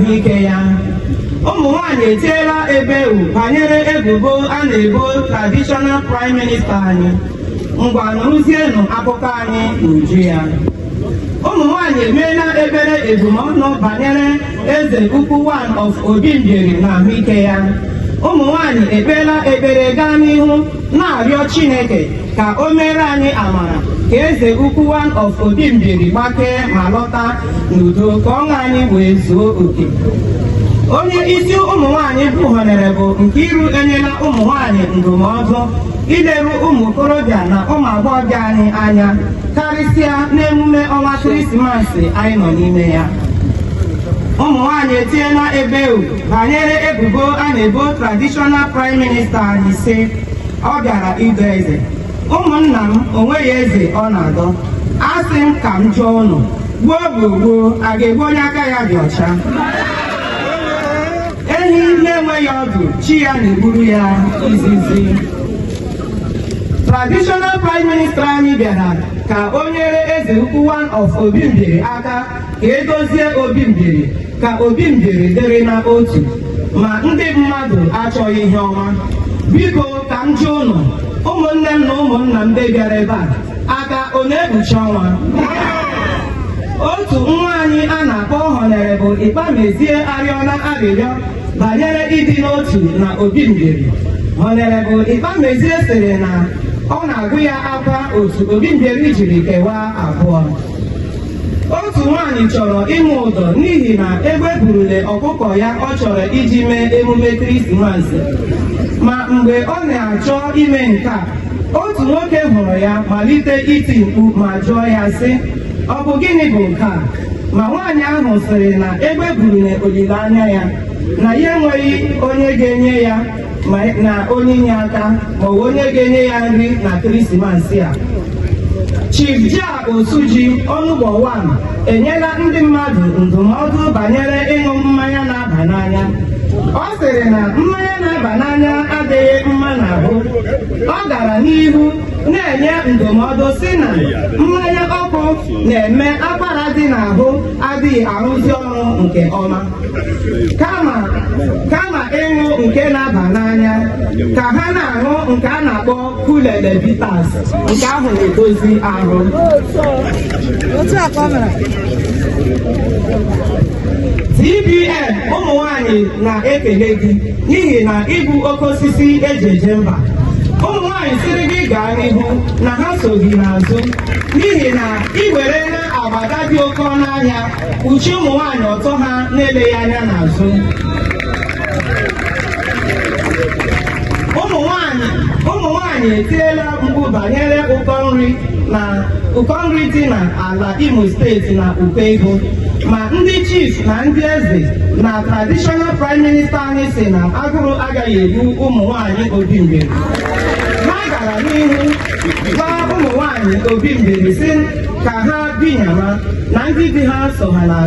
ahụike ya ụmụ nwanyị etiela ebewu banyere ebubo a na-ebo traditional prime minister anyị ngwa nụrụzienụ akụkọ anyị n'uju ya ụmụ nwanyị emeela ekpere ebumọnụ banyere eze ukwu one of Obi Mbieri na ahụike ya ụmụ nwanyị ekpeela ekpere gaa n'ihu na-arịọ Chineke ka o meere anyị amara ka eze ukwu one of Obi Mbieri gbakee ma lọta n'udo ka ọṅụ anyị wee zuo oke onye isi ụmụ nwanyị bụ Honourable Nkiru enyela ụmụ nwanyị ndụmọdụ ileru ụmụ okorobịa na ụmụ agbọghọbịa anyị anya karịsịa n'emume ọnwa Krismas anyị nọ n'ime ya ụmụ nwanyị etiela ebewu banyere ebubo a na-ebo traditional prime minister anyị sị ọ bịara ịdọ eze ụmụnna m o nweghị eze ọ na-adọ asị m ka m jụọ ụnụ gbuo gbuo gbuo a ga-egbu onye aka ya dị ọcha ehi na-enweghị ọdụ chi ya na-egburu ya izizi traditional prime minister anyị bịara ka o nyere eze ukwu one of Obi Mbieri aka ka e dozie Obi Mbieri ka Obi Mbieri dịrị na otu ma ndị mmadụ achọghị ihe ọma biko ka m jụọ ụnụ ụmụnne m na ụmụnna m ndị bịara ebe a aka ọ na-ekpuchi ọnwa otu nwa anyị a na-akpọ Honourable Ikpamezie arịọla arịrịọ banyere ịdị n'otu na Obi Mbieri Honourable Ikpamezie sịrị na ọ na-agụ ya akwa otu Obi Mbieri jiri kewaa abụọ otu nwaanyị chọrọ ịkwụ ụdọ n'ihi na egbe burule ọkụkọ ya ọ chọrọ iji mee emume krismas ma mgbe ọ na-achọ ime nke a otu nwoke hụrụ ya malite iti mkpu ma jụọ ya sị ọ bụ gịnị bụ nke a ma nwaanyị ahụ sịrị na egbe burule olileanya ya na ya enweghị onye ga-enye ya na onyinye aka maọbụ onye ga-enye ya nri na krismas a Osuji Onugbo one enyela ndị mmadụ ndụmọdụ banyere ịṅụ mmanya na-aba n'anya ọ sịrị na mmanya na-aba n'anya adịghị mma n'ahụ ọ gara n'ihu na-enye ndụmọdụ sị na mmanya ọkụ na-eme akwara dị n'ahụ adịghị arụzi ọrụ nke ọma kama kama ịṅụ nke na-aba n'anya ka ha na-aṅụ nke a na-akpọ Kulele Bitters nke ahụ na-edozi ahụ TBN ụmụ nwanyị na-ekele gị n'ihi na ị bụ oke osisi e ji eje mba ụmụ nwanyị sịrị gị gaa n'ihu na ha so gị n'azụ n'ihi na ị were na agbada dị oke ọnụ ahịa kpuchie ụmụ nwanyị ọtọ ha na-eleghị anya n'azụ ụmụ nwanyị ụmụ nwanyị etiela mkpu banyere ụkọ nri na ụkọ nri dị na ala Imo steeti na ụkọ ego ma ndị chief na ndị eze na traditional prime minister anyị sị na agụrụ agaghị egbu ụmụ nwanyị Obi Mbieri ha gara n'ihu gwa ụmụ nwanyị Obi Mbieri sị ka ha binyema na ndị di ha so ha n'azụ